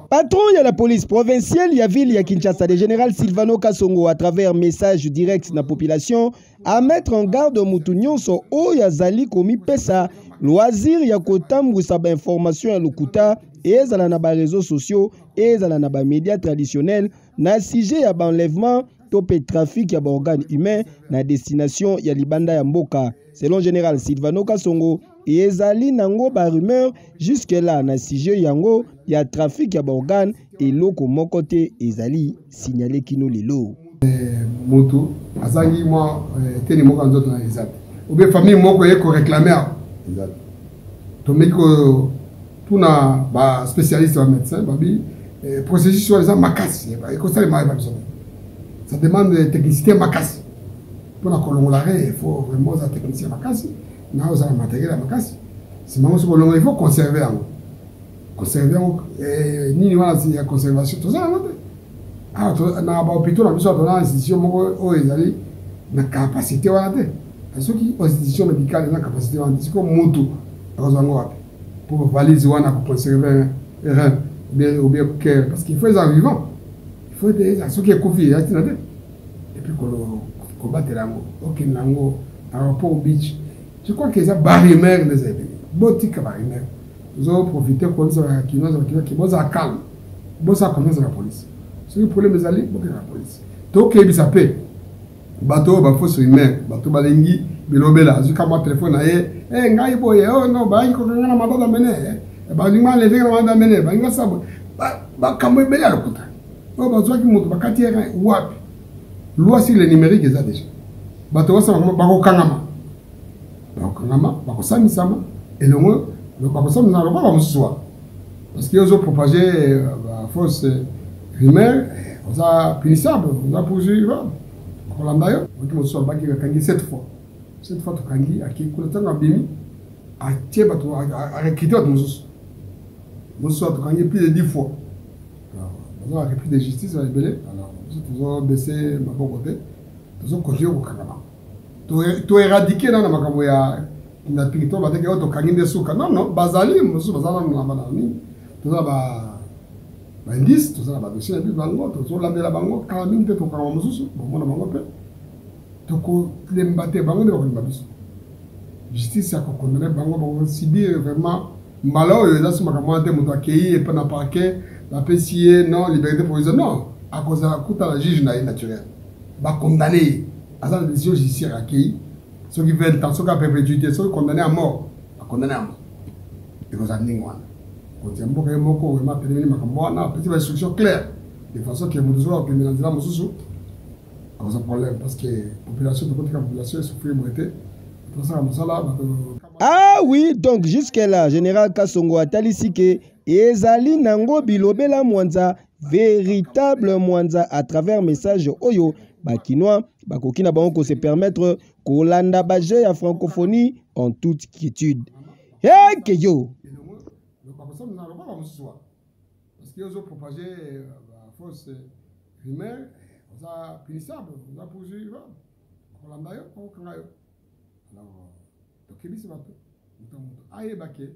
Patron ya la police provinciale ya ville ya Kinshasa, le général Silvano Kasongo, à travers message direct na population, à mettre en garde mutu nyonso oyo azali komipesa loisir ya kotambwisa ba information ya lokuta ezala na ba réseaux sociaux ezala na ba médias traditionnels na sujet ya ba enlèvement to mpe trafic ya baorgane humain na destination ya libanda ya mboka selon général Silvano Kasongo ezali nango ba rumeur jusque là na sujet yango ya trafic ya baorgane eloko moko te ezali signale kino lelo eh, motu azangi mwa eh, teni moko ya nzoto na eza te obie famille moko eye koreklame awa eza te tomeki kotuna baspécialiste ba médecin babi eh, processus wana eza makasi ekosalema yeba biso ça demande technicité makasi mpona kolongola re il faut vraiment oza technicien makasi na ozala matagela makasi nsima yango soki olongola il faut conserve yango conserve yango eh, nini wana ya conservation toza yango te awa ah, na bahopitau na biso awa toza na institution moko oyo ezali na capacité wana te soki institution médicale eza na capacité wana te sikoyo motu akozwa yango wapi mpo valise wana koconserve rein ou bien cœur parce qu'il faut eza vivant il faut ete soki ekufi eza ntina te et puis ko batela yango okende nango aéroport beach je crois que eza barimere nde eza ebele botika barimere ozo profite koyebisa bakinois bakinoki bozala calme bosala confiance na polise soki problème ezali bokenda na polise tokeyebisa mpe bato oyo bafosi rumere bato balingi bilobela azwi kamwa telefone na ye e ngai boye o oh, no bayaki kokanga na madada mene eh, balingi balevenge na madada mene balingi basala boye makambo ebele ya lokuta oyo bazwaki moto bakati ye rein wapi loi sur le numérique eza déjà bato basala koma bakokangama bakokangama bakosambisama elongo bakosambisama lokola bamosusu wana parce que ozo propage euh, bafausse euh, rumeur eh, oza punissable oza poursuivable bakolanda yo oki mosusu abaki akangi cette fois cette fois tokangi akei kuna ntango abimi atie bato arekrite bato mosusu mosusu atokangi plus de 10 fois baza ba repris de justice ba ebele alors biso tozo baisse maboko te tozo continue kokanga bango to éradiquer nana makambo ya na territoire bateke oyo tokangi nde suka non non bazali mosusu baza nano na bana nini toza ba baindice toza na badossier na biso bango tozolandela bango kala mingi te tokanga mosusu bomona bango mpe tokolemba te bango nde bakolemba biso justice ya kokondane bango bakosibir vraiment mbala oyo eza si makambo wana te moto akei epa na parquet bapesi ye non liberté provisoire non akozala kuta na juge na ye naturel bacondamne ye aza na décision judiciaire akei soki 20 ans soki aperpétuité soki condamné à mort acondamné à mort ekozala ndenge wana kotia mboka ye moko oyo matelemeli makambo wana apesi ba instruction claire de façon ke moto soki akokende na nzela mosusu akoza problème parce que population tokotika population esouffrir boye te tosala mosala bato Ah oui, donc jusque là, Général Kassongo atalisi que ezali nango bilobela mwanza véritable mwanza à travers message oyo bakinois bakoki na bango kose permettre kolanda baje ya francophonie en toute quiétude heke yo rumeur oza punissable oza poursuivable okolanda yo okanga yo Alors, tokebisi bato moto moto ayeba ke